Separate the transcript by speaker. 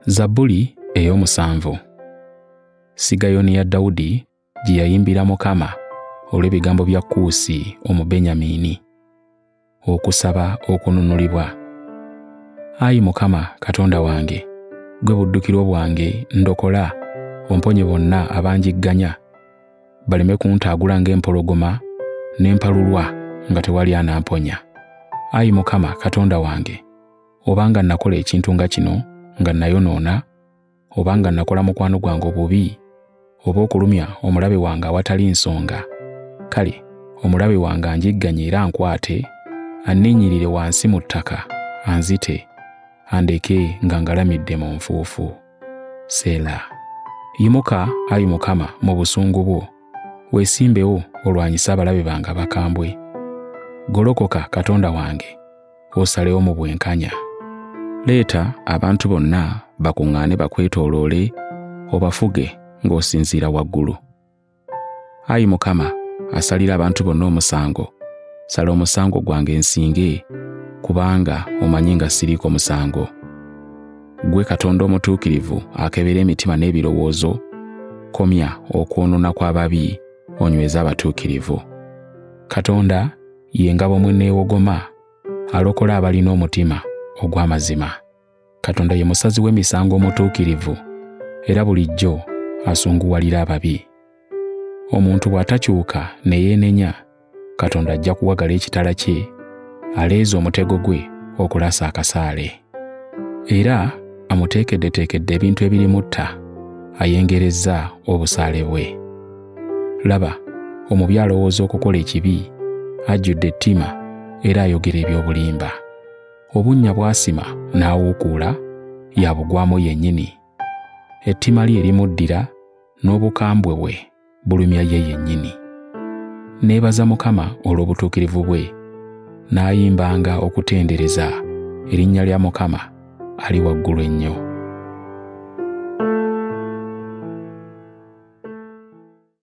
Speaker 1: zabbuli ey'omusanvu sigayoni ya dawudi gye yayimbira mukama olw'ebigambo bya kuusi omubenyamiini okusaba okununulibwa ayi mukama katonda wange gwe buddukiro bwange ndokola omponye bonna abanjigganya baleme kuntaagula ng'empologoma ne mpalulwa nga tewali anamponya ayi mukama katonda wange obanga nakola ekintu nga kino nga nayonoona obanga nakola mukwano gwange obubi oba okulumya omulabe wange awatali nsonga kale omulabe wange anjigganye era ankwate anninyirire wansi mu ttaka anzite andeke nga ngalamidde mu nfuufu seela yimuka ayi mukama mu busungu bwo weesimbewo olwanyise abalabe bange abakambwe golokoka katonda wange osalewo mu bwenkanya leeta abantu bonna bakuŋŋaane bakwetooloole obafuge ng'osinziira waggulu Ayi Mukama, asalira abantu bonna omusango, sala omusango gwange nsinge, kubanga omanyi nga siriiko musango. Ggwe Katonda omutuukirivu akebera emitima n'ebirowoozo, komya okwonoona kw'ababi onyweze abatuukirivu. Katonda ye ngabo mwe neewogoma, alokola abalina omutima ogw'amazima. Katonda ye musazi w'emisango omutuukirivu era bulijjo asunguwalira ababi. Omuntu bw'atakyuka ne yeenenya, Katonda ajja kuwagala ekitala kye, aleeze omutego gwe okulasa akasaale. Era amuteekeddeteekedde ebintu ebirimutta, ayengerezza obusaale bwe. Laba, omubi alowooza okukola ekibi, ajjudde ettima era ayogera eby'obulimba. obunnya bw'asima n'awuukuula yabugwamu yennyini ettima lye limuddira n'obukambwe bwe bulumya ye yennyini neebaza mukama olw'obutuukirivu bwe n'ayimbanga okutendereza erinnya lya mukama ali waggulu ennyo